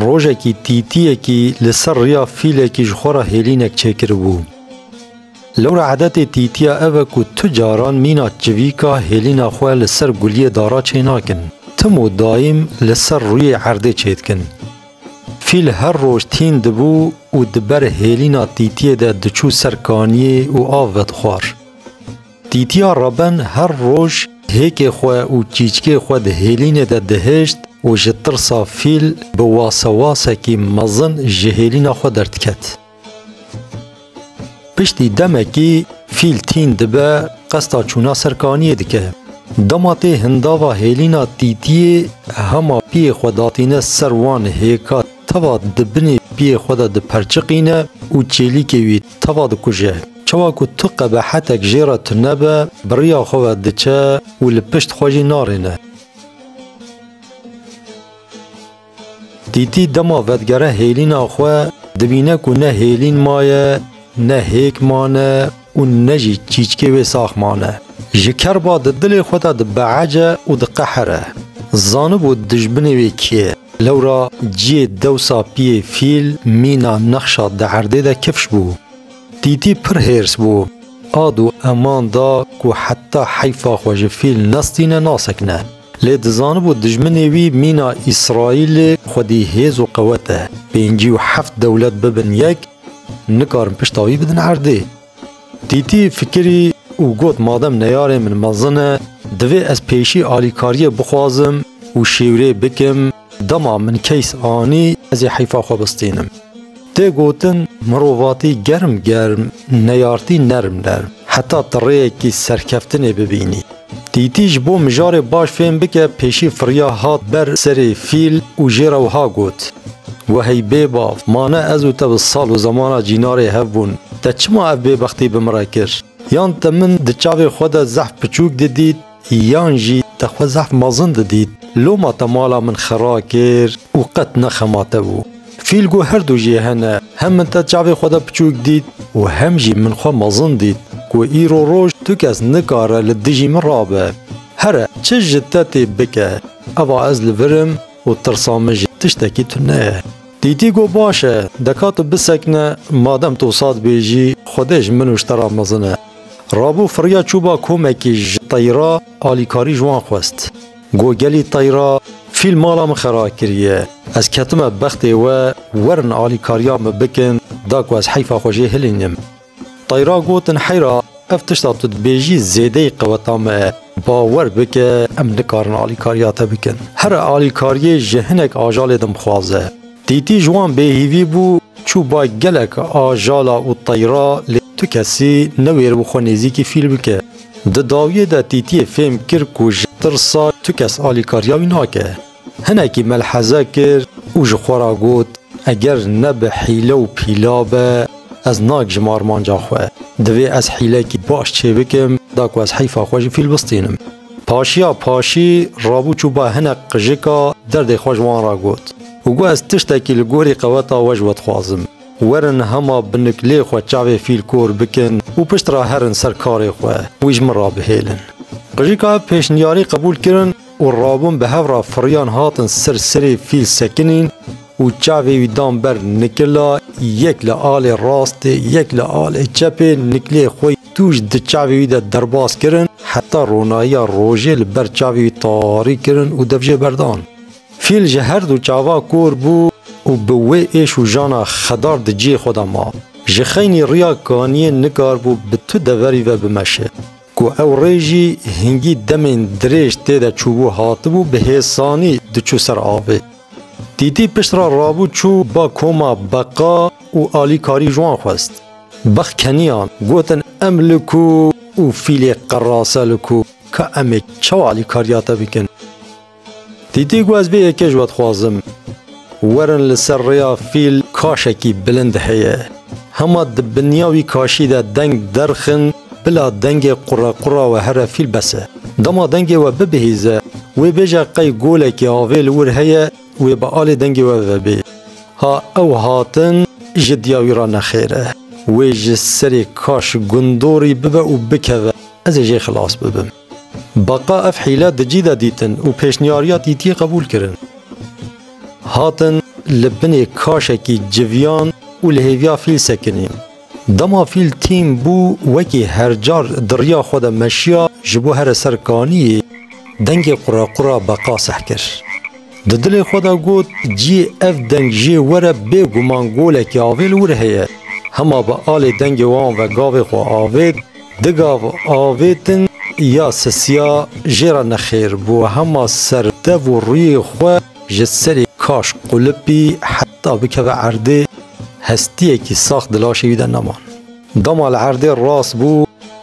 Rojekî tîtiyekî li ser riya fîlekî ji xwe re hêlînek çêkiribû. Lewra edetê tîtiya ev e ku tu caran mîna çivîka hêlîna xwe li ser guliyê dara çênakin. Tim û dayîm li ser rûyê erdê çêdikin. Fîl her roj tîn dibû û di ber hêlîna tîtiyê de diçû ser kaniyê û av vedixwar. Tîtiya Reben her roj hêkê xwe û çîçkê xwe di hêlînê de dihişt û ji tirsa fîl bi wasewasekî mezin ji hêlîna xwe derdiket. Piştî demekî fîl tîn dibe qesta çûna ser kaniyê dike. Dema tê hindava hêlîna tîtiyê hema piyê xwe datîne ser wan hêka Tava di binê piyê xwe de diperçiqîne û çêlîkê wî tava dikuje. Çawa ku tu qebehetek jê re tunebe, bi riya xwe ve diçe û li pişt xwe jî narêne. Dîtî dema vedigere hêlîna xwe, dibîne ku ne hêlîn maye, ne hêk mane û ne jî çîçkê wê sax mane. Ji kerba di dilê xwe de dibeece û diqehere. Zanibû dijbinê wê kê ye. Lewra ciyê dewsa piyê fîl mîna nexşa di erdê de kifş bû. Tîtî pir hêrs bû. Ad û eman da ku heta heyfa xwe ji fîl nestîne nasekine. Lê dizanibû dijminê wî mîna Îsraîlê xwedî hêz û qewet e. Pêncî û heft dewlet bibin yek, nikarin pişta wî bidin erdê. Tîtî fikirî û got madem neyarên min mezin e, divê ez pêşî alîkariyê bixwazim û şêwirê bikim, dema min keys anî ez ê heyfa xwe bistînim. Tê gotin mirovatî germ germ neyartî nerm nerm heta ti rêyekî serkeftinê bibînî. Tîtî ji bo mijarê baş fêm bike pêşî firiya hat ber serê fîl û jê re wiha got, We hey bêbav, ma ne ez û te bi sal û zemana cînarê hev bûn, te çima ev bêbextî bi min re kir? Yan te min di çavê xwe de zehf piçûk didît yan jî te xwe zehf mezin didît, loma te mala min xera kir û qet ne xema te bû. Fîl ku her du jî hene, hem min te çavê xwe de piçûk dît û hem jî min xwe mezin dît ku îro roj tu kes nikare li dijî min rabe. Here çi ji te tê bike, eva ez li vir im û tirsa min ji tiştekî tune ye. Dîtî got baş e, deka tu bisekine, madem tu wisa dibêjî, Xwedê ji min û ji te re mezin e. Rabû firiya çûba komekî ji teyra alîkarî ji wan xwest. Go gelî teyra fîl mala min xera kiriye. Ez ketime bextê we, werin alîkariya min bikin, da ku ez heyfa xwe jê hilînim. Teyra gotin heyra ev tişta tu dibêjî zêdeyî qeweta me ye. Bawer bike em nikarin alîkariya te bikin. Here alîkariyê ji hinek ajalê din bixwaze. Tîtî ji wan bêhîvî bû, çû bay gelek a jala û teyra lê tu kesî newêr bû xwe nêzîkî fîl bike. Di dawiyê de Tîtîyê fêm kir ku ji tirsa tu kes alîkariya wî nake. Hinekî melheze kir û ji xwe re got, Eger ne bi hîle û pîla be ez nagijim armanca xwe. Divê ez hîlekî baş çêbikim da ku ez heyfa xwe jî fîl bistînim. Paşiya paşî rabû çû ba hinek qijika derdê xwe ji wan re got û got ez tiştekî li gorî qeweta we ji we dixwazim. Werin hema bi niklê xwe çavê fîl kor bikin û pişt re herin ser karê xwe wî ji min re bihêlin. Qijika ev pêşniyarî qebûl kirin û rabûn bi hev re firiyan hatin ser serê fîl sekinîn. Û çavê wî dan ber nikila, yek li alê rastê, yek li alê çepê, nikilê xwe tûj di çavê wî de derbas kirin, heta ronayiya rojê li ber çavê wî tarîk kirin û devjê berdan. Fîl ji her du çava kor bû û bi wê êş û jana xedar di cihê xwe de ma. Ji xeynî riya kaniyê nikaribû bi tu deverî ve bimeşe. Ku ew rê jî hingî demên dirêj tê de çûbû hatibû bi hêsanî diçû ser avê. Tîtî pişt re rabû çû ba koma beqa û alîkarî ji wan xwest. Beq keniyan, gotin em li ku û fîlê qerase li ku, ka em ê çawa alîkariya te bikin? Tîtî got ez vê yekê ji we dixwazim. Werin li ser rêya fîl kaşekî bilind heye. Hema di binya wî kaşî de deng derxin bila dengê qurequra we here fîl bes e. Dema dengê we bibihîze, wê bêje qey golekî avê li wir heye wê bi alê dengê we vebê. Ha ew hatin ji diya wî re nexêr e. Wê ji serê kaş gundorî bibe û bikeve, ez ê jê xilas bibim. Beqa ev hîle di cî de dîtin û pêşniyariya TT'yê qebûl kirin. Hatin li binê kaşekî civiyan û li hêviya fîl sekinîn. Dema fîl tîm bû wekî hercar di riya xwe de meşiya ji bo here ser kaniyê dengê quraqura Beqa seh kir. Di dilê xwe de got ciyê ev deng jê were bê guman golekî avêl wir heye. Hema bi alê dengê wan ve gavê xwe avêt, Di gav avê din ya sisiya jê re nexêr bi wehema serdev û rûyê xwe ji serê kaşk qulipî heta bikeve erdê hestiyekî sax di laşê wî de neman. Dema li erdê rast bû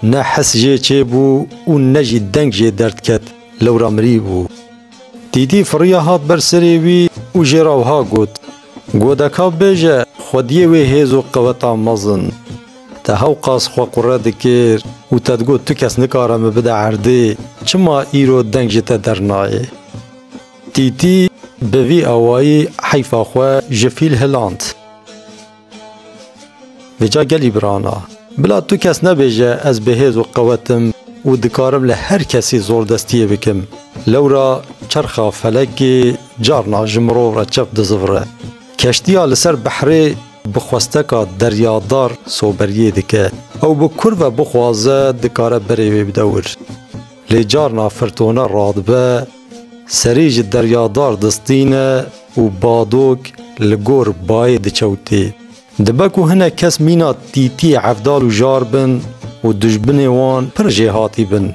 ne his jê çêbû û ne jî deng jê derdket lewra mirî bû. Dîdî firiya hat ber serê wî û jê re wiha got, Godeka bêje xwediyê wê hêz û qewetan mezin. Te hewqas xwe qure dikir û te digot tu kes nikare min bide erdê, çima îro deng ji te dernayê? Tîtî bi vî awayî heyfa xwe ji fîl hiland. Vêca gelî birana, bila tu kes nebêje ez bihêz û qewet im û dikarim li her kesî zordestiyê bikim. Lewra çerxa felekê carna ji mirov re çep dizivire. Keştiya li ser behrê. Bi xwesteka deryadar soberiyê dike. Ew bi kur ve bixwaze dikare berê wê bide wir. Lê carna firtone radibe, serî ji deryadar distîne û badok li gor bayê dikewtê. Dibe ku hinek kes mîna tîtiyê hevdal û jar bin û dijbinê wan pir jêhatî bin.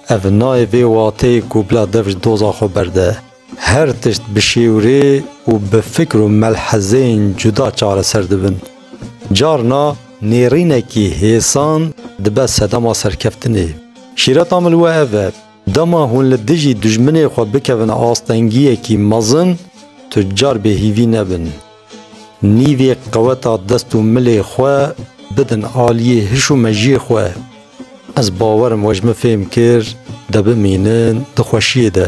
Ev nayê vê wateyê ku bila dev ji doza xwe berde. Her tişt bi şêwirê û bi fikr û melhezeyên cuda çareser dibin. Carna nêrînekî hêsan dibe sedema serkeftinê. Şîreta min li we ev e, dema hûn li dijî dijminê xwe bikevin astengiyekî mezin, tu car bêhîvî nebin. Nîvê qeweta dest û milê xwe bidin aliyê hiş û mejiyê xwe. Ez bawer im we ji min fêm kir de bimînin di xweşiyê de.